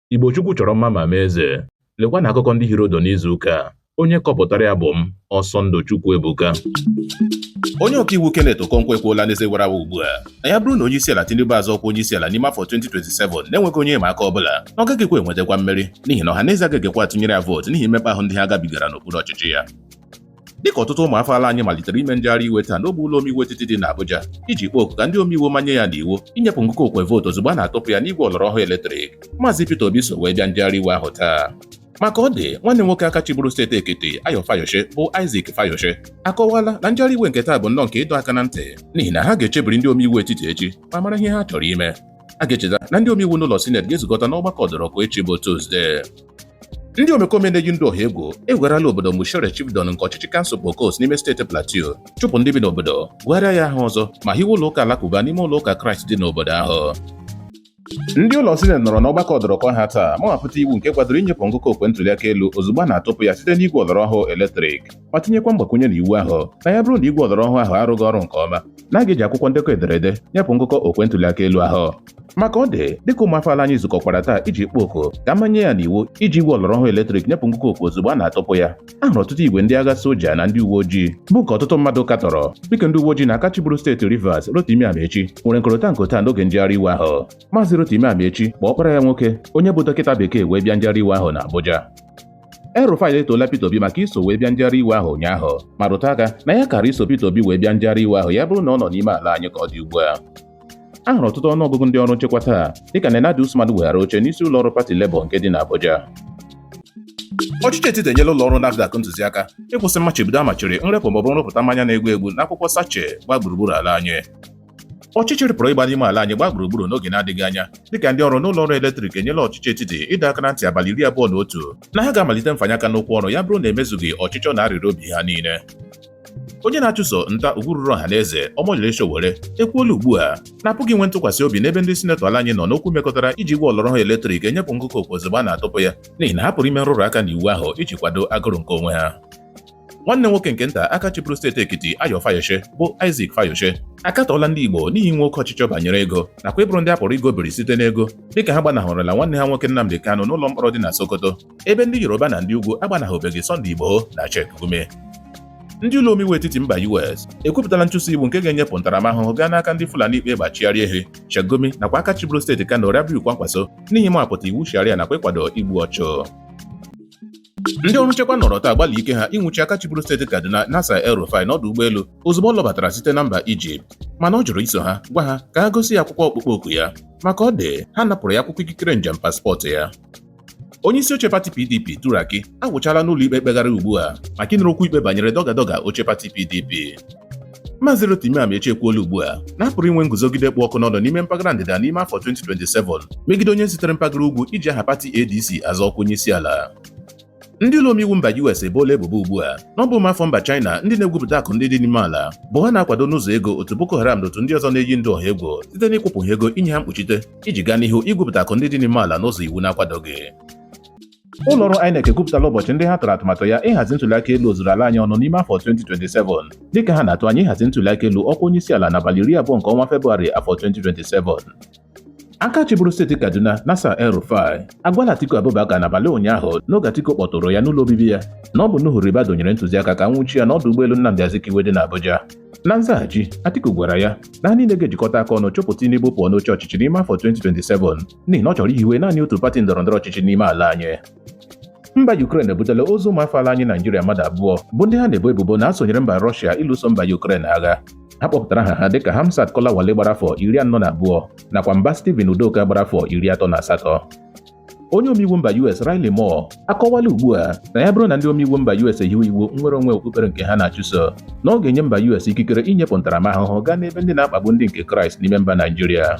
Igbo Chukwu chọrọ mma ma mee eze. Lekwa na akụkọ ndị hiri ụdụ n'izu ụka a. Onye kọpụtara ya bụ m, Ọsọndụ Chukwu Ebuka. Onye ọkaiwu Kenneth Okonkwo ekwuola n'ezi wara awa ugbu a na ya bụrụ na onye isi ala Tinubu azọ ọkwa onye isi ala n'ime afọ 2027 na-enweghị onye ịma aka ọ bụla na ọ gaghịkwa enwetakwa mmeri n'ihi na ọha na eze agaghịkwa atụnyere ya vootu n'ihi mmekpa ahụ ndị ha gabigara n'okpuru ọchịchị ya dịka ọtụtụ ụmụafọ ala anyị malitere ime njegharị iwe taa n'ogbe ụlọ omeiwu etiti dị n'Abuja iji kpọọ oku ka ndị omeiwu manye ya n'iwu inyepụ ngụkọ okwe vootu ozugbo a na-atụpụ ya n'igwe ọlọrọ ọhụụ eletrik maazị Peter Obi so wee bịa njegharị iwe ahụ taa ma ka ọ dị nwanne nwoke aka chịburu steeti Ekiti Ayo Fayose bụ Isaac Fayose akọwala na njegharị iwe nke taa bụ nnọọ nke ịdọ aka na ntị n'ihi na ha ga-echebiri ndị omeiwu etiti echi ma mara ihe ha chọrọ ime a ga-echeta na ndị omeiwu n'ụlọ sineti ga-ezukọta n'ọgbakọ ọdọrọkụ echi bụ Tuzdee Ndị omekome na-eji ndụ ọha egwu ewegharala obodo Mushere Chibdon nke ọchịchị kansụl Bokkos n'ime steeti Plateau chụpụ ndị bi n'obodo gụgharịa ya aha ọzọ ma hiwe ụlọ ụka alakụba n'ime ụlọ ụka Kraịst dị n'obodo ahụ ndị ụlọ sineti nọrọ n'ọgbakọ ọdọrọkụ ha taa ma wepụta iwu nke kwadoro inyepụ ngụkọ okwe ntụliaka elu ozugbo a na-atụpụ ya site n'igwe ọlọrọ ọhụụ eletrik ma tinyekwa mgbakwunye na iwu ahụ na ya bụrụ na igwe ọlọrọ ọhụụ ahụ arụghị ọrụ nke ọma na a ga-eji akwụkwọ ndekọ ederede nyepụ ngụkọ okwe ntụliaka elu ahụ ma ka ọ dị dịka ụmụafọ ala anyị zukọkwara taa iji kpọọ oku ka manye ya n'iwu iji igwe ọlọrọ ọhụụ eletrik nyepụ ngụkọ okwe ozugbo a na-atụpụ ya a hụrụ ọtụtụ igwe ndị agha soja na ndị uwe ojii bụ nke ọtụtụ mmadụ katọrọ dịka ndị uwe ojii na aka chịburu steeti Rivers Rotimi Amaechi nwere nkọrịta nkata n'oge njegharị iwe ahụ maazị Rotimi Amaechi kpọ ọkpara ya nwoke onye bụ dọkịta bekee wee bịa njegharị iwe ahụ na Abuja El-Rufai etoola Peter Obi maka iso wee bịa njegharị iwe ahụ ụnyaahụ ma rụta aka na ya kara iso Peter Obi wee bịa njegharị iwe ahụ ya bụrụ na ọ nọ n'ime ala anyị ka ọ dị ugbu a a hụrụ ọtụtụ ọnụọgụgụ ndị ọrụ nchekwa taa dịka Nenadi Usman weghara oche n'isi ụlọ ọrụ pati Labour nke dị n'Abuja ọchịchị etiti enyela ụlọ ọrụ NAFDAC ntụziaka ịkwụsị mmachibido a machiri nrepụ maọbụ nrụpụta mmanya na-egbu egbu n'akwụkwọ sache gbaa gburugburu ala anyị ọchịchịrị pụrụ ịgba n'ime ala anyị gbaa gburugburu n'oge na-adịghị anya dịka ndị ọrụ n'ụlọ ọrụ eletrik enyela ọchịchị etiti ịdọ aka na ntị abalị iri abụọ na otu na ha ga-amalite mfanye aka n'ụkwụ ọrụ ya bụrụ na e mezughị ọchịchọ na arịrịọ obi ha niile onye na-achụso nta ugwu ruru ọha na eze Omoyele Sowore ekwuola ugbu a na a pụghị inwe ntụkwasị obi n'ebe ndị sinetọ ala anyị nọ n'okwu mekọtara iji igwe ọlọrọ ọhụụ eletrik enyepụ ngụkọ okwe ozugbo a na-atụpụ ya n'ihi na ha pụrụ ime nrụrụ aka n'iwu ahụ iji kwado agụrụ nke onwe ha nwanne nwoke nke nta aka chịburu steeti Ekiti Ayo Fayose bụ Isaac Fayose akatọọla ndị Igbo n'ihi inwe oke ọchịchọ banyere ego nakwa ịbụrụ ndị a pụrụ igobiri site n'ego dịka ha gbanahụrụla nwanne ha nwoke Nnamdi Kanu n'ụlọ mkpọrọ dị na Sokoto ebe ndị Yoruba na ndị ugwu agbanahụbeghị Sunday Igboho na Sheikh Gumi ndị ụlọ omeiwu etiti mba US ekwupụtala nchụso iwu nke ga-enyepụ ntaramahụhụ gaa n'aka ndị Fulani kpa egbe achịgharị ehi Sheikh Gumi nakwa aka chịburu steeti Kano Rabiu Kwankwaso n'ihi ịmapụta iwu sharia nakwa ịkwado igbu ọchụ ndị ọrụ nchekwa nọrọ taa gbalị ike ha ịnwụchi aka chịburu steeti Kaduna Nasir El Rufai n'ọdụ ụgbọelu ozugbo ọ lọbatara site na mba Ijipt mana ọ jụrụ iso ha gwa ha ka ha gosi ya akwụkwọ ọkpụkpọ oku ya ma ka ọ dị ha napụrụ ya akwụkwọ ikikere njem paspọtụ ya onye isi oche pati pdp Turaki agwụchala n'ụlọ ikpe mkpegharị ugbu a maka ịnụrụ okwu ikpe banyere dọga dọga oche pati pdp Maazị Rotimi Amaechi ekwuola ugbu a na a pụrụ inwe nguzogide kpụ ọkụ n'ọnụ n'ime mpaghara ndịda n'ime afọ 2027 megide onye sitere mpaghara ugwu iji aha pati ADC azọ ọkwa onye isi ala ndị ụlọ omeiwu mba US eboola ebubo ugbu a na ọ bụ ụmụafọ mba China ndị na-egwupụta akụ ndị dị n'ime ala bụ ha na-akwado n'ụzọ ego otu Boko Haram na otu ndị ọzọ na-eyi ndụ ọha egwu site n'ịkwụpụ ha ego inye ha mkpuchite iji gaa n'ihu igwupụta akụ ndị dị n'ime ala n'ụzọ iwu na-akwadoghị ụlọ ọrụ INEC ekwupụtala ụbọchị ndị ha tụrụ atụmatụ ya ịhazi ntụliaka elu ozuru ala anyị ọnụ n'ime afọ 2027 dịka ha na-atụ anya ịhazi ntụliaka elu ọkwa onye isi ala n'abalị iri abụọ nke ọnwa Febụwarị afọ 2027 aka chịburu steeti kaduna Nasir El Rufai agwala atiku abubakar n'abalị ụnyaahụ n'oge atiku kpọtụrụ ya n'ụlọ obibi ya na ọ bụ Nuhu Ribadu nyere ntụziaka ka a nwụchie ya n'ọdụ ụgbọelu nnamdị azikiwe dị n'abuja na nzaghachi atiku gwara ya na ha niile ga-ejikọta aka ọnụ chụpụ Tinubu pụọ n'oche ọchịchị n'ime afọ 2027 n'ihi na ọ chọrọ ihiwe naanị otu pati ndọrọndọrọ ọchịchị n'ime ala anyị mba Ukraine ebutela ozu ụmụafọ ala anyị Naijiria mmadụ abụọ bụ ndị ha na-ebo ebubo na ha sonyere mba Rọshia ịlụso mba Ukraine agha ha kpọpụtara aha ha dịka Hamzat Kolawole gbara afọ iri anọ na abụọ nakwa Mbah Stephen Udoka gbara afọ iri atọ na asatọ onye omeiwu mba US Riley Moore akọwala ugbu a na ya bụrụ na ndị omeiwu mba US ehiwe iwu nnwere onwe okpukpere nke ha na-achụso na ọ ga-enye mba US ikikere inyepụ ntaramahụhụ gaa n'ebe ndị na-akpagbu ndị nke Kraịst n'ime mba Naijiria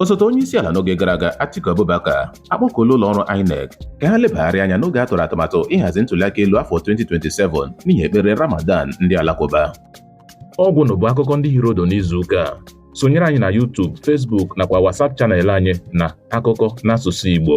osote onye isi ala n'oge gara aga Atiku Abubakar akpọkuola ụlọ ọrụ INEC ka ha lebagharị anya n'oge a tụrụ atụmatụ ịhazi ntụliaka elu afọ 2027 n'ihi ekpere Ramadan ndị Alakụba ọ gwụla bụ akụkọ ndị hiri ụdụ n'izu ụka a sonyere anyị na YouTube, Facebook nakwa WhatsApp channel anyị na akụkọ n'asụsụ Igbo